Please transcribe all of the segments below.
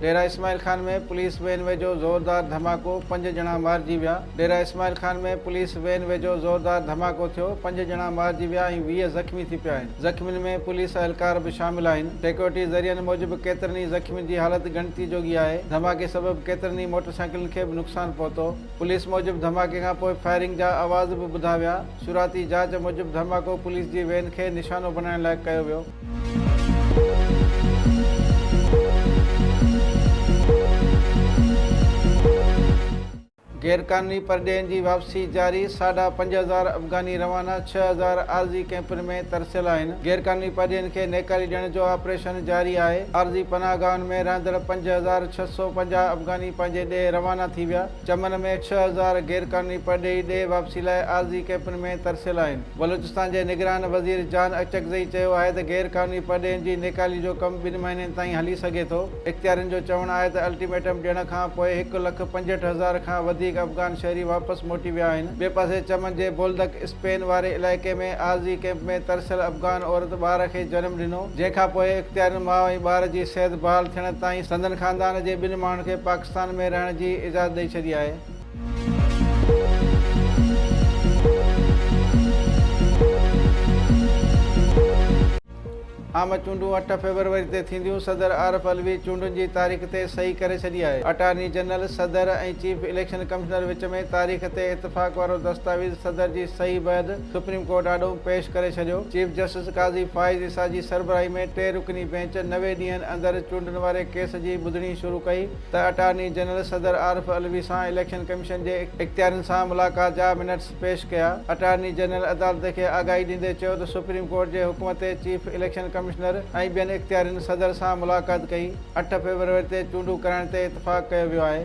Dera Ismail Khan ۾ police van ويجهو زوردار ڌماڪو، پنج ڄڻا مارجي ويا ڊيرا اسماعيل خان ۾ پوليس وين ويجهو زوردار ڌماڪو ٿيو، پنج ڄڻا مارجي ويا ۽ ويهه زخمي ٿي پيا آهن، زخمين ۾ پوليس اهلڪار به شامل آهن، سيڪيورٽي ذريعن موجب ڪيترن ئي زخمين جي حالت ڳڻتي جوڳي آهي، ڌماڪي سبب ڪيترن ئي موٽر سائيڪلن کي به نقصان پهتو، پوليس موجب ڌماڪي کان پوء فائرنگ جا آواز به ٻڌا ويا، شروعاتي جاچ موجب ڌماڪو پوليس جي وين کي نشانو بڻائڻ لاء ڪيو ويو. غيرقانوني پرڏيهين جي واپسي جاري، ساڍا پنج هزار افغاني روانه، ڇهه هزار عارضي ڪئمپن ۾ ترسيل آهن، غيرقانوني پرڏيهين کي نيڪالي ڏيڻ جو آپريشن جاري آهي، عارضي پناهه گاهن ۾ رهندڙ پنج هزار ڇهه سؤ پنجاهه افغاني پنهنجي ڏيهه روانا ٿي ويا. چمن ۾ ڇهه هزار غيرقانوني پرڏيهي ڏي واپسي لاء عارضي ڪئمپن ۾ ترسيل آهن. بلوچستان جي نگران وزير جان اچڪزئي چيو آهي ته غير قانوني پرڏيهين جي نيڪالي جو ڪم ٻن مهينن تائين هلي سگهي ٿو. اختيارين جو چوڻ آهي ته الٽيميٽم ڏيڻ کان پوء هڪ لک پنجهٺ هزار کان وڌيڪ افغان شهري واپس موٽي ويا آهن. ٻئي پاسي چمن جي بولدڪ اسپين واري علائقي ۾ عارضي ڪئمپ ۾ ترسيل افغان عورت ٻار کي جنم ڏنو جنهن کان پوء اختيارين ماء ۽ ٻار جي صحت بحال ٿيڻ تائين سندن خاندان جي ٻن ماڻهن کي پاڪستان ۾ رهڻ جي اجازت ڏئي ڇڏي آهي. عام چونڊون اٺ فيبروري تي ٿينديون، صدر عارف علوي چونڊن جي تاريخ تي صحيح ڪري ڇڏي آهي، اٽارني جنرل، صدر ۽ چيف اليڪشن ڪمشنر وچ ۾ تاريخ تي اتفاق وارو دستاويز صدر جي صحيح بعد سپريم ڪورٽ آڏو پيش ڪري ڇڏيو. چيف جسٽس قاضي فائز عيسيٰ جي سربراهي ۾ ٽي رڪني بينچ نوي ڏينهن اندر چونڊن واري ڪيس جي ٻڌڻي شروع ڪئي ته اٽارني جنرل صدر عارف علوي سان اليڪشن ڪميشن جي اختيارين سان ملاقات جا منٽس پيش ڪيا. اٽارني جنرل عدالت کي آگاهي ڏيندي چيو ته سپريم ڪورٽ جي حڪم تي چيف اليڪشن ڪمشنر ۽ ٻين اختيارين صدر سان ملاقات ڪئي، اٺ فيبروري تي چونڊون ڪرائڻ تي اتفاق ڪيو ويو آهي.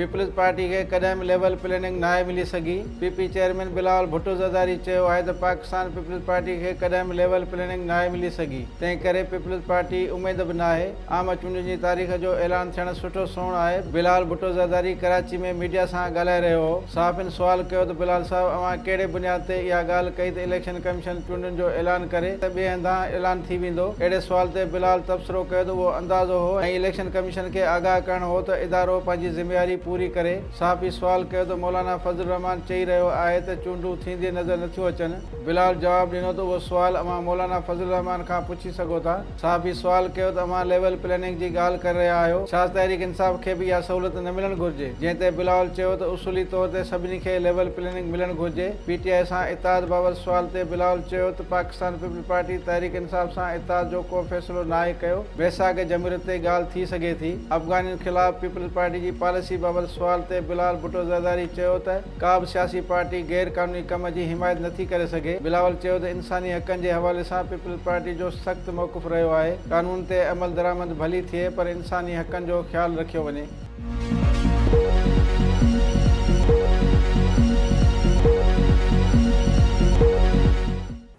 پيپلز پارٽي کي ڪڏهن به ليول پليننگ ناهي ملي سگهي، P P chairman Bilawal Bhutto Zardari چيو آهي ته پاڪستان پيپلز پارٽي کي ڪڏهن به ليول پليننگ ناهي ملي سگهي، تنهن ڪري پيپلز پارٽي اميد به ناهي. عام چونڊن جي تاريخ جو اعلان ٿيڻ سٺو سنئوڻ آهي، بلال ڀٽو زرداري ڪراچي ۾ ميڊيا سان ڳالهائي رهيو هو، صحافين سوال ڪيو ته بلال صاحب اوهان ڪهڙي بنياد تي اها ڳالهه ڪئي ته اليڪشن ڪميشن چونڊن جو اعلان ڪري ته ٻئي هنڌان اعلان ٿي ويندو، اهڙي سوال تي بلال تبصرو ڪيو ته اهو اندازو هو ۽ اليڪشن ڪميشن کي آگاهه ڪرڻ هو ته ادارو پنهنجي ذميواري پوري ڪري، صحافي سوال ڪيو ته مولانا فضل الرحمان چئي رهيو آهي ته چونڊون ٿيندي نظر نٿيون اچن، بلال جواب ڏنو ته اهو سوال اوهان مولانا فضل الرحمان کان پڇي سگهو ٿا. صحافي سوال ڪيو ته اوهان ليول پليننگ جي ڳالهه ڪري رهيا آهيو، ڇا تحريڪ انصاف کي به اها سهولت نه ملڻ گهرجي؟ جنهن تي بلاول چيو ته اصولي طور تي سڀني کي ليول پليننگ ملڻ گهرجي. پي ٽي آء سان اتحاد بابت سوال تي بلاول چيو ته پاڪستان پيپلز پارٽي تحريڪ انصاف سان اتحاد جو ڪو فيصلو ناهي ڪيو، ويساهه جمهوريت تي ڳالهه ٿي سگهي ٿي. افغانين خلاف پيپلز پارٽي جي پاليسي بابت سوال تي بلال ڀٽو زرداري چيو ته. ڪا به سياسي پارٽي غير قانوني ڪم جي حمايت نٿي ڪري سگهي، بلاول چيو ته انساني حقن جي حوالي سان پيپلز پارٽي جو سخت موقف رهيو آهي، قانون تي عملدرآمد ڀلي ٿئي پر انساني حقن جو خيال رکيو وڃي.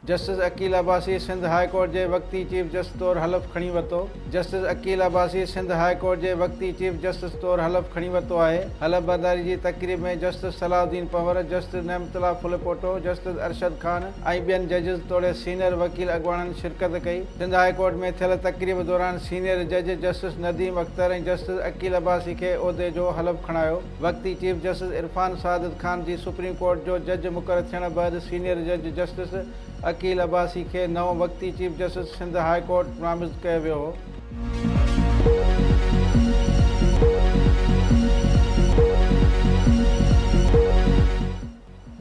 Justice Aqeel Abbasi Sindh high court جي وقتي چيف جسٽس طور حلف کڻي ورتو justice Aqeel Abbasi Sindh high court جي وقتي چيف جسٽس طور حلف کڻي ورتو آهي حلف برداري جي تقريب ۾ جسٽس صلاح الدين پنهور جسٽس نعمت الله ڦلپوٽو جسٽس ارشد خان ۽ ٻين ججز توڙي سينئر وڪيل اڳواڻن شرڪت ڪئي سنڌ هاء ڪورٽ ۾ ٿيل تقريب دوران سينئر جج جسٽس نديم اختر ۽ جسٽس عقيل عباسي کي عهدي جو حلف کڻايو وقتي چيف جسٽس عرفان سعادت خان جي سپريم ڪورٽ جو جج مقرر ٿيڻ بعد سينيئر جج جسٽس عقيل عباسي کي نئون وقتي chief justice Sindh high court نامزد ڪيو ويو هو.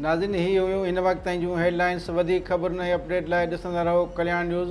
ناظرين هي هيون هن وقت تائين جون هيڊ لائنس وڌيڪ خبرن ۽ اپڊيٽ لاء ڏسندا رهو ڪلياڻ نيوز.